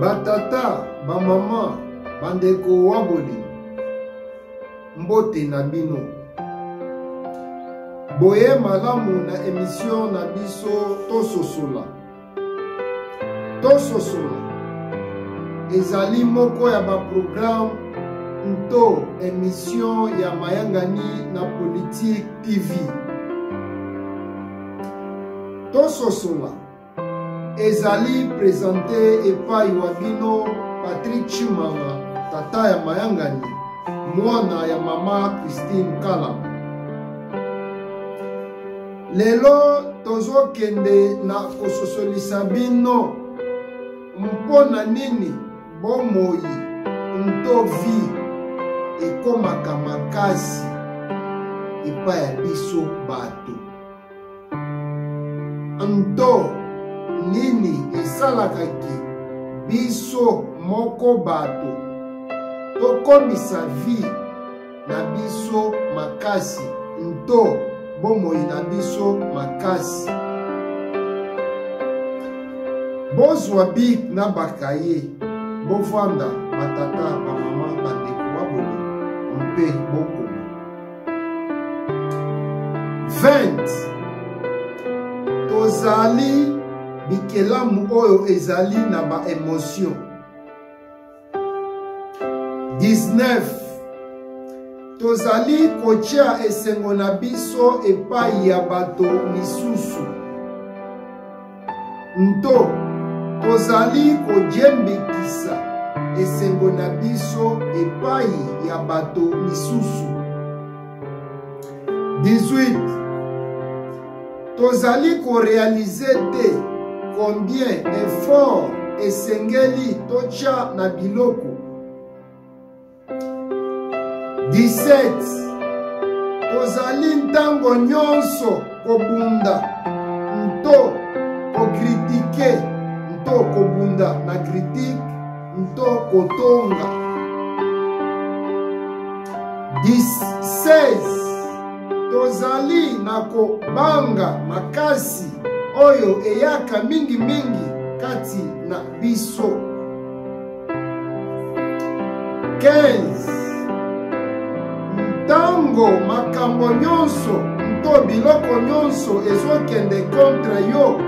Batata, bamama, bandeko waboli, mbote na bino. Boye malamu na emission na biso tososola. Tososola ezali moko ya baprograme nto emission ya mayangani na Politique TV. Tososola ezali presente epai wa bino patrik chimanga tata ya mayangani mwana ya mama christine kala lelo tozokende na kososolisa bino mpo na nini bomoi nto vi ekomaka makasi epai ya biso bato nto nini esalaka ke biso moko bato tokomisa vi na biso makasi nto bomoi na biso makasi bozwa bik na bakaye bovanda batata bamama bandeko baboni mpe boko 20 tozali bikelamu oyo ezali na baemotio 19 tozali kotya esengo na biso epai ya bato misusu nto tozali kojembekisa esengo na biso epai ya bato misusu 18 tozali korealize te combien effort esengeli totya na biloko 17 tozali ntango nyonso kobunda nto kokritike nto kobunda na kritike nto kotonga 16 tozali na kobanga makasi oyo eyaka mingimingi kati na biso 15 ntango makambo nyonso to biloko nyonso ezokende kontre yo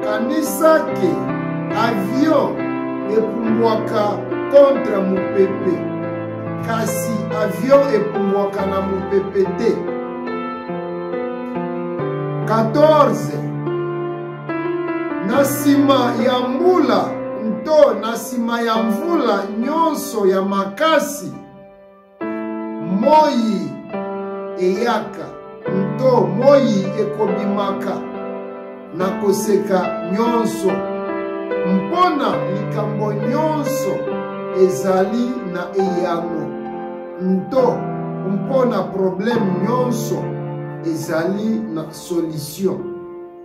kanisa ke avion epumbwaka kontre mopepe kasi avion epumbwaka na mopepe te 14 Na nsima ya mbula nto na nsima ya mvula nyonso ya makasi, moi eyaka nto moi ekobimaka na koseka nyonso mpo na likambo nyonso ezali na eyano nto mpo na probleme nyonso ezali na solution.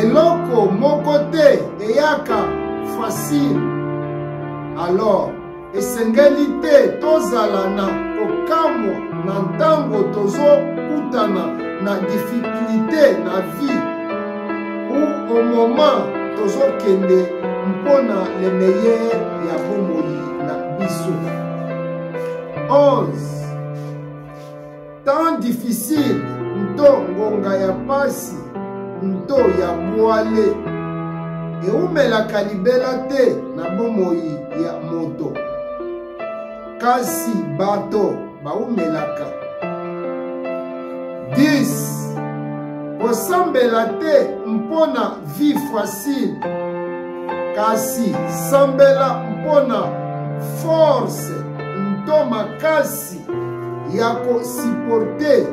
eloko moko te eyaka facile alors esengeli te tozala na kokamwa na ntango tozokutana na difikulite na vie ou au moment tozokende mpo na le meilleur ya bomoi na biso 11 temps difficile nto ngonga ya pasi nto ya bwale eumelaka libela te na bomoi ya moto kasi bato baumelaka 10 kosambela te mpo na vie facile kasi sambela mpo na force nto makasi ya kosiporte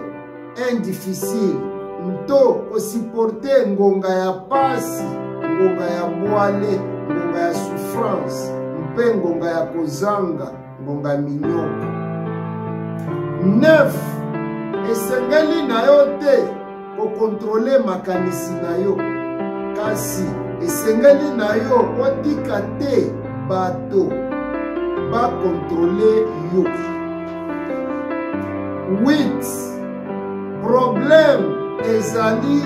un difficile nto kosiporte ngonga ya pasi ngonga ya bwale ngonga ya souffrance mpe ngonga ya kozanga ngonga ya minyoko 9 esengeli na yo te kokontrole makanisi na yo kasi esengeli na yo otika te bato bakontrole yo 8 problème ezali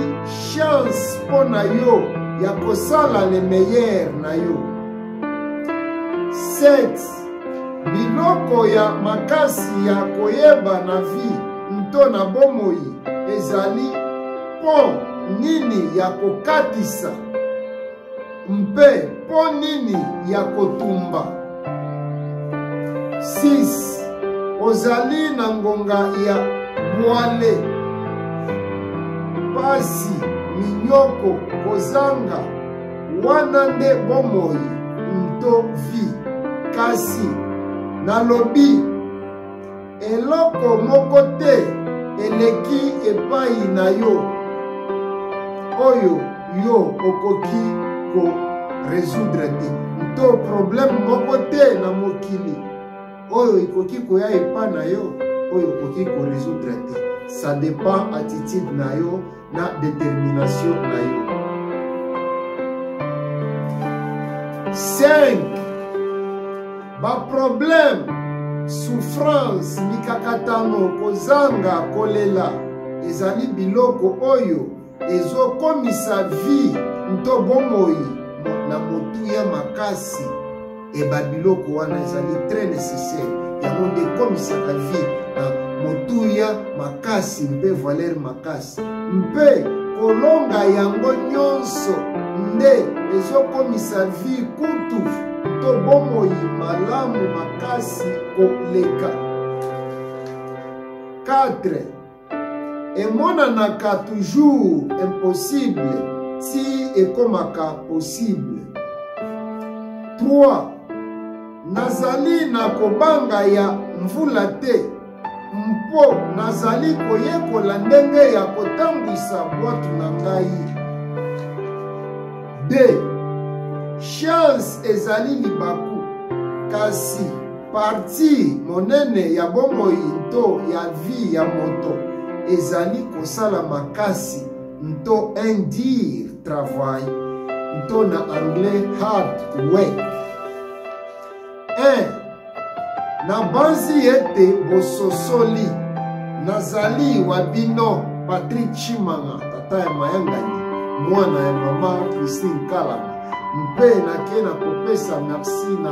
chance mpo na yo ya kosala le meilleur na yo 7 biloko ya makasi ya koyeba na vi nto na bomoi ezali mpo nini ya kokatisa mpe mpo nini ya kotumba 6 ozali na ngonga ya bwale pasi minyoko kozanga wana nde bomoi nto vi kasi nalobi eloko moko te eleki epai na yo oyo yo okoki ko résoudre te nto problème moko te na mokili oyo ekoki koya epai na yo oyo okoki ko résoudre te ça dépend attitude na yo na determination na yo 5 baproblème souffrance mikakatano kozanga kolela ezali biloko oyo ezokomisa vie nto bomoi na motuya makasi eba biloko wana ezali très nécessaire yango nde ekomisaka vie na motuya makasi mpe valeur makasi mpe kolonga yango nyonso nde ezokomisa vie kutu to bomoi malamu makasi koleka 4 emonanaka toujours impossible ti ekomaka possible 3 nazali na kobanga ya mvula te mpo nazali koyekola ndenge ya kotambwisa bwato na ngai 2 chance ezali libaku kasi Parti monene ya bomoi nto ya vie ya moto ezali kosala makasi nto un dire travail nto na anglais hard work. Eh, nabanzi ete bososoli nazali wa bino patrik chimanga tata ya mayangani mwana ya mama christine kalama mpe nake na kopesa merci na